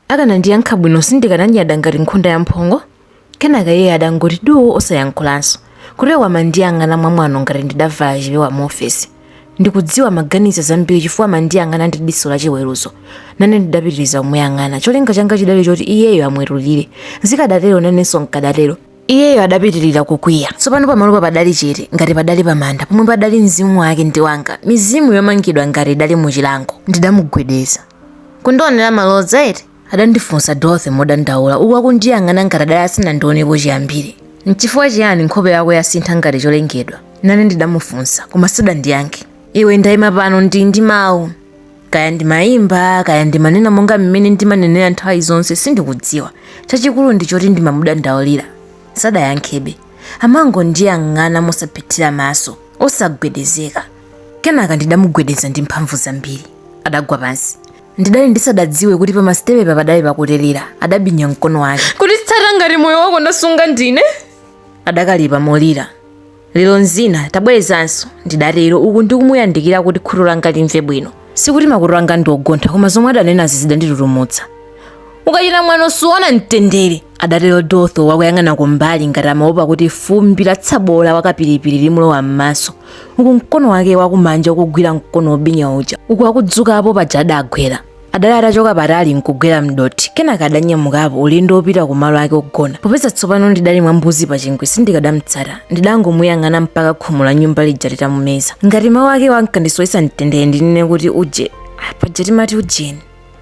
Akanandiyankha bwino sindikananyada ngati nkhunda yamphongo? Kenaka iye adangoti duu osayankhulanso. Kuteku amandiyang'ana mwamwano ngati ndidavala chipewa muofesi. Ndikudziwa amaganiza zambiri chifukwa amandiyang'ana ndi diso lachiweruzo. Nane ndidapitiriza kumuyang'ana. Cholinga changa chidali choti iyeyo amwetulire. Zikadatero nanenso nkadatero. Iyeyo adapitirira kukwiya. Tsopano pamalopa padali chete ngati padali pamanda pomwe padali mzimu wake ndi wanga, mizimu yomangidwa ngati idali muchilango. Ndidamugwedeza. Kundionera malodza eti? adandifunsa Dorothy modandaula uku akundiyang'ana ngati adali asanandionepo chiyambire. N'chifukwa chiyani nkhope yako yasintha ngati cholengedwa? Nane ndidamufunsa, koma sadandiyankhe. Iwe ndaima pano ndili ndi mawu. Kaya ndimaimba, kaya ndimanena monga mmene ndimanenera nthawi zonse sindikudziwa. Chachikulu ndi choti ndimamudandaulira. Sadayankhebe. Amangondiyang'ana mosaphethira maso, osagwedezeka. Kenaka ndidamugwedeza ndi mphamvu zambiri. adagwa pansi ndidali ndisadadziwe kuti pamasitepepa padali pakuterera adabinya mkono wake kunditsata ngati moyo wako ndasunga ndine adakalipa molira lero nzina tabwerezanso ndidatero uku ndikumuyandikira kuti khutu langa limve bwino sikuti makutu anga ndiogontha koma zomwe adanenazi zidanditutumutsa ukachita mwano suona mtendere adatero dorothy akuyang'ana kumbali ngati amaopa kuti fumbi la tsabola wakapiripiri limulowa m'maso uku mkono wake wakumanja ukugwira mkono wobinya uja uku akudzukapo paja adagwera adali atachoka patali nkugwera mdothi kenaka adanyamukapo ulendo wopita ku malo ake ogona popeza tsopano ndidali mwa mbuzi pa chingwe sindikadamtsata ndidangomuyang'ana mpaka khomo la nyumba lija litamumeza ngati mawu ake ankandisowetsa mtendere ndinene kuti uje paja timati ujeni